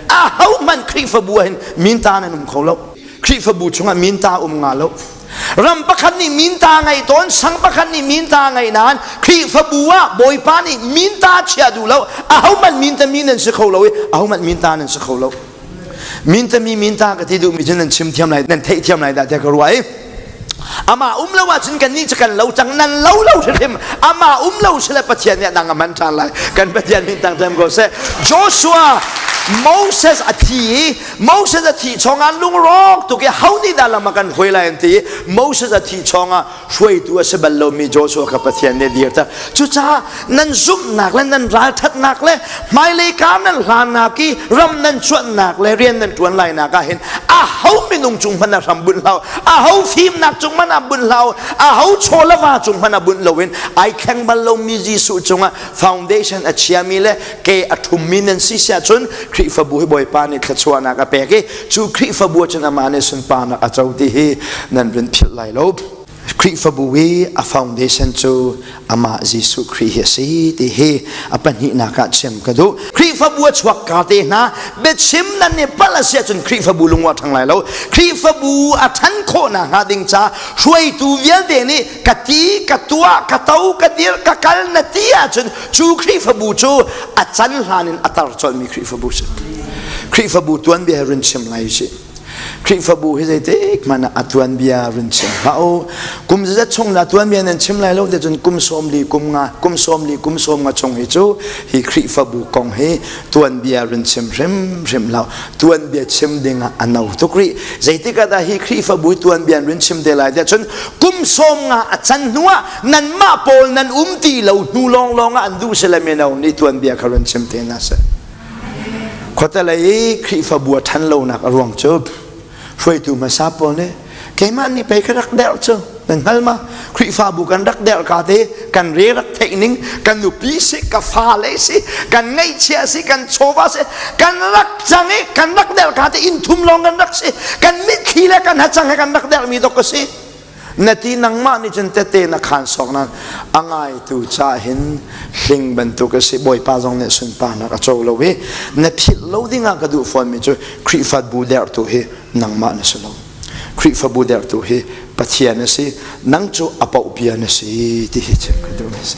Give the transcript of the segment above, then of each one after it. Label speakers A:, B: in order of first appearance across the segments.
A: ahohmanh Khrihfabu ah hin minta nan um kho lo Khrihfabu chungah minta um nga lo ram pakhat nih minta ngei tawn sang pakhat nih minta ngei nain Khrihfabu ah Bawipa nih minta chia duh lo ahohmanh minta mi nan si kho lo i ahohmanh minta nan si kho lo minta mi minta ka ti duhmi cu nan chim thiam lai nan theih thiam lai dah tiah ka ruah i Ama um lo ahcun kannih cu kan lo cang nan lo lo hrim ama um lo si le Pathian nih nang a man ṭhan lai kan Pathian min tang them ko seh Joshua Moses a thi i Moses a thi chungah lungrawk tuk i ho nih dah lam a kan hoi lai an ti Moses a thi chungah hruaitu a si bal lomi Joshua kha Pathian nih a dir ta cucaah nan zumhnak le nan ralthatnak le hmailei ka nan hlannak i ram nan chuannak le rian nan tuan lainak ah hin a ho minung cung hmanh a hram bunh hlau a ho fimnak cung hmanh a bunh hlau a ho chawlava cung hmanh a bunh loin ai kheng bal lomi Jesuh cungah foundation a chiami le ke a thummi nan si siah cun Khrihfabu hi Bawipa nih thluachuahnak a pek i cu Khrihfabu cun amah nih sunparnak a co ti hi nan run philh lai lo Khrihfabu i a foundation cu amah Jesuh Khrih hi a si ti hi a pahnihnak ah chiam ka duh. Khrihfabu a chuak ka te hna biachim nan i palh a si ahcun Khrihfabu lung a ṭhang lai lo. Khrihfabu a ṭhan khawhnak hnga ding ca hruaitu vialte nih ka ti, ka tuah, ka to, ka dir, ka kal na ti ahcun cu Khrihfabu cu a can hlan in a tar colmi Khrihfabu si. Khrihfabu tuanbia he run chim lai u sih. Khrihfabu hi zeitik man a tuan bia run chim hlah u kum zat chung la tuan bia nan chim lai lo te cun kum sawm li kum nga kum sawm li kum sawm nga chung hi cu hi Khrihfabu kong hi tuan bia run chim hrim hrim lo tuan bia chim ding ah a no tuk rih zeitik ah dah hi Khrihfabu tuan bia run chim te lai te cun kum sawm nga a chan hnu ah nan mah pawl nan um ti lo hnu lawng lawng ah an duh se le mino nih tuan bia kha run chim te na se Khuatelei Khrihfabu a ṭhan lonak a ruang cu hruaitu hmasa pawl nih keimah nih pei ka rak derh cu nan hngal ma Khrihfabu kan rak derh ka te kan re rak theih ning kan nupi si ka fale si kan ngaihchia si kan chawva si kan rak cang i kan rak derh ka te inn thum lawng kan rak si kan mitthli le kan hacang he kan rak derhmi dok ka si na ti nangmah nih cun tete na khan sawk nan a ngaitu ca hin hling bantuk a si bawipa zong nih sunparnak a co lo i na philh lo dingah ka duh fawnmi cu Khrihfabu dertu hi nangmah na si lo Khrihfabu dertu hi Pathian a si nang cu a pauhpia na si ti hi chim ka duh a si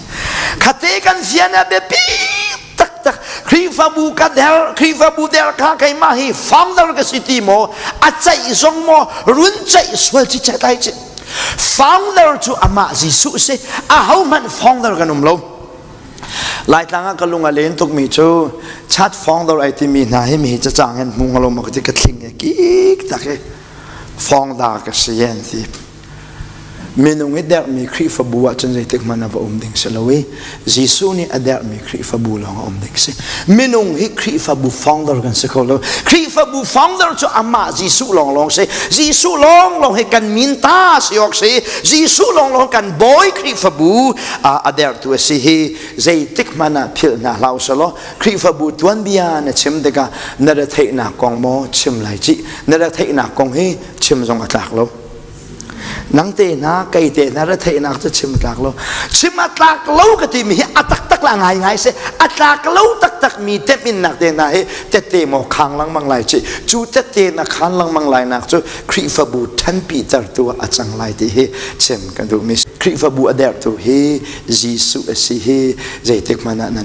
A: khate kan fian a biapi tak tak Khrihfabu ka der Khrihfabu der ka keimah hi founder ka si ti maw a ceih zong maw run ceih sual ci ceih lai ci founder cu amah Jesuh si a ho hmanh founder kan um lo Laitlang ah ka lung a len tukmi cu chat founder ai timi hna hi mi ca cang hen hmu ngalom ka ti ka thling he kik tak he founder ka si an ti Minung i dermi Khrihfabu ah cun zeitikhmanh ah va um ding si lo i Jesuh nih a dermi Khrihfabu lawng a um ding si. Minung hi Khrihfabu founder kan si kho lo. Khrihfabu founder cu amah Jesuh lawng lawng si. Jesuh lawng lawng hi kan min ta si awk si. Jesuh lawng lawng kan bawi Khrihfabu a dertu a si hi zeitikhmanh ah philh hna hlau sa law Khrihfabu tuanbia na chim tikah na retheihnak kong maw chim lai ci. Na retheihnak kong hi chim zong a tlak lo. nang te na kei te na retheihnak cu chim tlak lo chim a tlak lo ka timi hi a taktak la ngai ngai se a tlak lo taktak mi tep in nak te na hi tette mo khang langmang lai chi cu tette na khan langmang lai nak cu khrifabu thanpi tertu a cang lai ti hi chim ka duh mi khrifabu a der tu hi Jesu a si hi zeitik mana nan